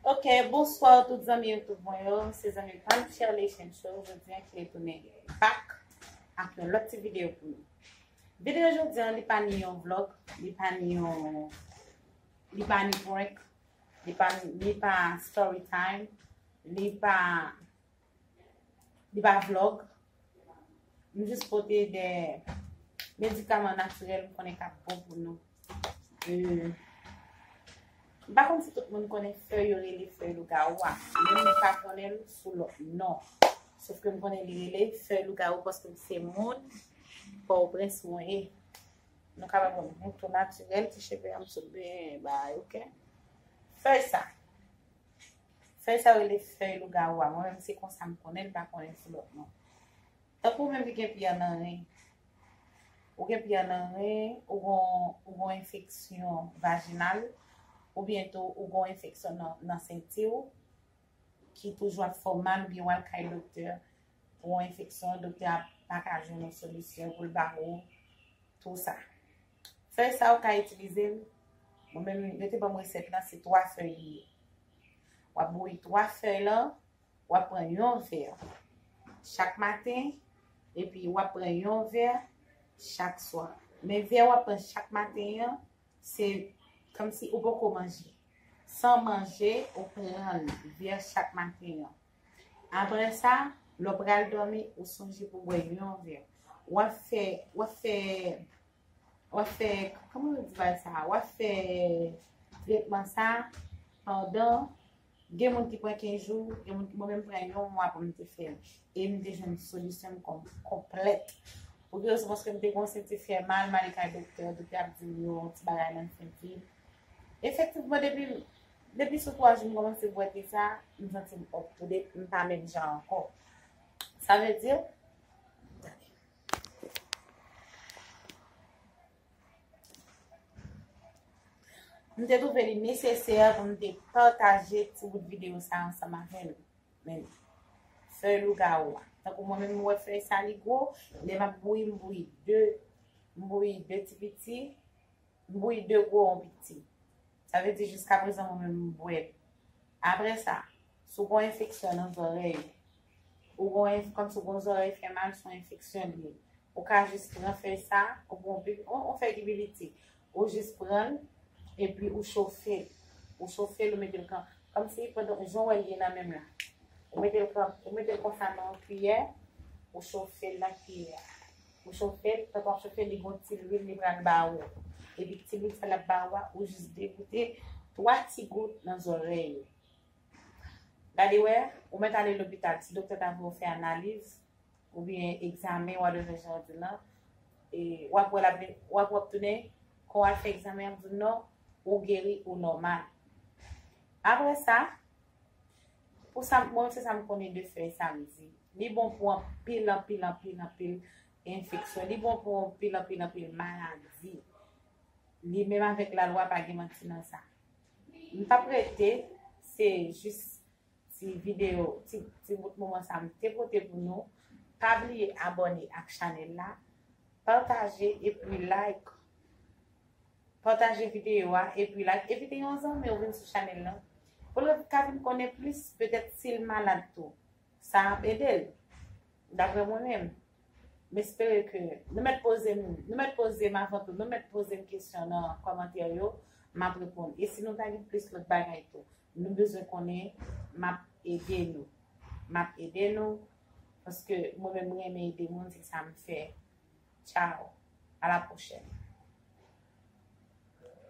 Ok bonsoir tout zanmi youtube mwen yo se zanmi pam Shirley Chencho jodi an kile tounen back ak yon lòt ti video pou nou video jodi an li pa ni yon vlog li pa ni yon li pa ni prank li pa ni pa story time li pa Li pa vlog. M jis pote de medikaman natirèl m konnen k ap bon pou nou. M pa konn si tout moun konnen fèy yo rele fèy lougawou a. Mwen m pa konnen l sou lòt non. Sof ke m konnen li rele fèy lougawou paske m se moun Pòtoprens mwen ye. Nou ka wè mwen bouton natirèl ti cheve a m sot byen bay ok. Fèy sa. Fèy sa rele fèy lougawou a mwen menm se konsa m konnen m pa konnen sou lòt non. Tankou ou menm ki gen piyè nan ren, ou gen piyè nan ren, ou gon ou gon enfeksyon vajinal, oubyen tou ou gon enfeksyon nan senti ou ki toujou ap fè w mal oubyen w al kay doktè pou yon enfeksyon, doktè a pa ka jwenn yon solisyon pou l ba ou tou sa. Fèy sa ou ka itilize l, mwen menm yo te banm resèt la se 3 fèy li ye. Wap bouyi 3 fèy lan, wap pran yon vè chak maten epi wap pran yon vè chak swa. Men vè wap pran chak maten an, se kòmsi ou poko manje. San manje ou pran vè chak maten an. Aprè sa, lè w pral dòmi, ou sonje pou w bwè yon vè. W ap fè, w ap fè, w ap fè, kòman yo di bagay sa a? W ap fè tretman sa a pandan, gen moun ki pran 15 jou, gen moun, mwen menm m pran yon mwa pou m te fè l. E m te jwenn solisyon m konplèt. Pou ki rezon? Paske m te kòmanse m te fè mal, m ale kay doktè, doktè a ap di m yo ti bagay nan figi. Efektivman depi. Depi sou 3 jou m komanse bwè te sa, m santi m up to date, m pa menm jan ankò. Sa vle di, M te twouve li nesesè pou m te pataje ti bout videyo sa ansanm avè nou. Men, fèy lougawou a. Tankou mwen menm m wè fèy sa li gwo, lè m ap bouyi m bouyi 2, m bouyi 2 ti piti. Bouyi de gwo on piti. Sa vle di jiska prezan mwen menm m bwè l. Aprè sa, si w gon enfeksyon nan zòrèy ou, ou gon enf kòmsi w gon zòrèy fè mal son enfeksyon li ye. Ou ka jis pran fèy sa, ou pran on pip on on fèy ki pi piti. Ou jis pran l epi ou chofe l. Ou chofe l ou mete l kan kòmsi pandan jan w wè l ye nan men m la. Ou mete l kan ou mete l konsa nan on kiyè, ou chofe l nan kiyè a. Ou chofe l, pandan w ap chofe l, li gen yon ti lwil li pral ba ou. Epi ti lwil sa l ap ba ou a, ou jis degoute 3 ti gout nan zòrèy ou. Gade wè, ou mèt ale lopital, si doktè ta vle w fè analiz, oubyen egzamen wa done jan w di l lan, e w ap wè l ap vin, w ap wè w ap tounen, kon w al fè egzamen an ap di w non, ou geri, ou nòmal. Apre sa, Pou sa mwen se sa m konnen de fèy sa m di. Li bon pou anpil anpil anpil anpil enfeksyon, li bon pou anpil anpil anpil maladi. Li menm avèk lalwa pa gen manti nan sa. M pa p rete, se jis ti videyo, ti bout moman sa m te pote pou nou. Pa bliye abòne ak chanèl la, pataje epi like. Pataje videyo a epi like evite yon zanmi w vin sou chanèl lan pou l ka vin konnen plis petèt si l malad tou sa ap ede l daprè mwen menm m espere ke nou mèt poze m nou mèt poze m avan tou nou mèt poze m kesyon nan kòmantè yo m ap reponn e si nou ta gen plis lòt bagay tou nou bezwen konnen m ap ede nou m ap ede nou paske mwen menm m renmen ede moun se sa m fè. Ciao! A la prochèn!